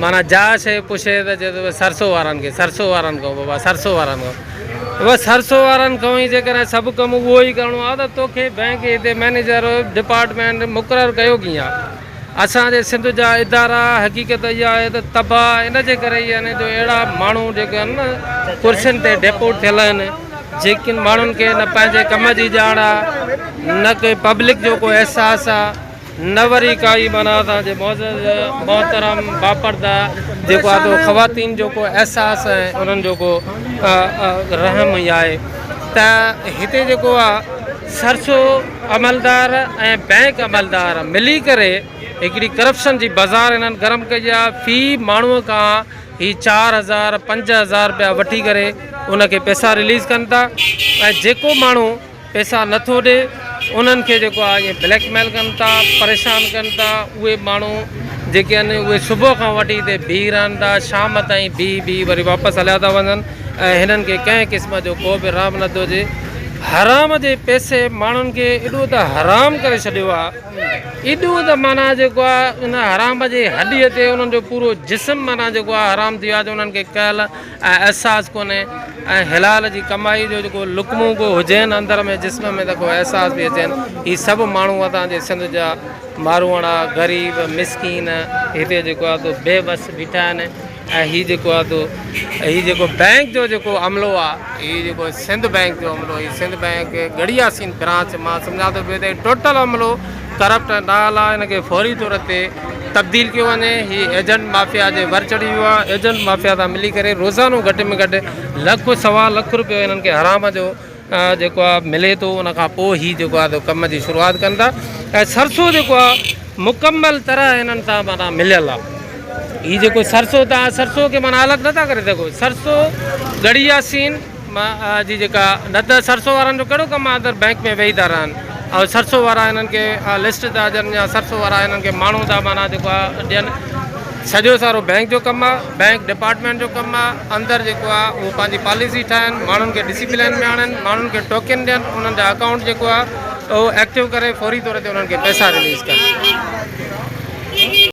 معنيٰ جا شيء پڇي ته چئي ٿو سرسو وارن کي، سرسو وارن کان بابا، سرسو وارن کان. بابا سرسو وارن کان ئي جيڪڏهن سڀ ڪم اهو ئي ڪرڻو آهي ته توکي بئنڪ جي هتي مئنيجر ڊپارٽمينٽ مقرر ڪيو ڪيئن؟ اسان جي سنڌ جا ادارا حقيقت اها آهي ته تباهه ان جي ڪري ئي آهن جو اهڙا ماڻهو جيڪي آهن نه ڪرسين تي ڊيپوٽ ٿيل آهن جيڪن ماڻهن کي نه پنهنجي ڪم جي ڄاڻ آهي نه ڪنهن پبلڪ جو ڪو احساس آهي. نه وري ڪائي معنيٰ اسان جي معزز محترم باپرده جيڪو آهي تو خواتين جو ڪو احساس ۽ انهن جو ڪو رحم هي آهي ته هتي جيڪو آهي سرسو عملدار ۽ بئنڪ عملدار ملي ڪري هڪڙي ڪرپشن جي بازار انهن گرم ڪئي آهي في ماڻهو کان هي چار هزار پنج هزار رپيا وٺي ڪري ان کي پئسا رليز ڪن ٿا ۽ جيڪو ماڻهو پئسا نه ٿو ڏي انهن کي جيڪو آ اهي بليڪ ميل ڪن ٿا پريشان ڪن ٿا اهي ماڻهو جيڪي آهن اهي صبح کان وٺي هتي بيهي رهن ٿا شام تائين بيهي بيهي وري واپس هليا ٿا وڃن ۽ هنن کي ڪنهن قسم جو ڪو به رحم نه ٿو هجي حرام جي پئسي ماڻهن کي ايڏو ته حرام ڪري ڇڏيو آهي ايڏو ته معنيٰ جيڪو آهي ان حرام جي هڏي تي انهن جو پورو جسم معنيٰ جيڪو آهي حرام ٿي ويو آهي جو انهن کي ڪهل ۽ احساس ڪونهي ۽ حلال جي ڪمائي جو جيڪو لقمو ڪو هجين اندر ۾ جسم ۾ ته ڪو احساس به اچين هي سڀ ماڻهو اتان جي سنڌ جا ماروئڙا غريب مسڪين هتي جيڪو آهي تو بي وس بيٺا آهن ۽ هي جيڪو آهي تو هي جيڪو بئنڪ جو جيڪو عملو آهي هي جيڪو سنڌ بئنڪ جو عملو هي سنڌ بئنڪ ڳڙهياسين برانچ مان سمجهان ٿو ٽوٽل عملو ڪرپٽ ۽ نااهل آهي ان کي فوري طور تي تبديل ڪيو وڃي هي ايجنٽ مافيا جي ور چڙهي ويو آهي ايجنٽ مافيا سان ملي ڪري روزانو گهٽ ۾ گهٽ لک سوا لک روپيو هنن کي حرام جو جيڪو آهي ملي ٿو ان کان پوء هي جيڪو آهي سو ڪم جي شروعات ڪن ٿا ۽ سرسو جيڪو آهي مڪمل طرح هنن سان معنيٰ مليل آهي هي جيڪو سرسو تان سرسو کي معنيٰ الڳ نٿا ڪري سگهو سرسو ڳڙهيا سين مان آ جي جيڪا نه ته سرسو وارن جو ڪهڙو ڪم آ اندر بينڪ ۾ ويهي ٿا رهن آ سرسو وارا هنن کي آ لسٽ ٿا ڏين يا سرسو وارا هنن کي ماڻهو ٿا معنيٰ جيڪو آ ڏين سڄو سارو بينڪ جو ڪم آ بينڪ ڊپارٽمينٽ جو ڪم آ اندر جيڪو آ اهو پنهنجي پاليسي ٺاهن ماڻهن کي ڊسيپلين ۾ آڻن ماڻهن کي ٽوڪن ڏين انهن جا اڪائونٽ جيڪو آ اهو ايڪٽو ڪري فوري طور تي انهن کي پئسا رليز ڪن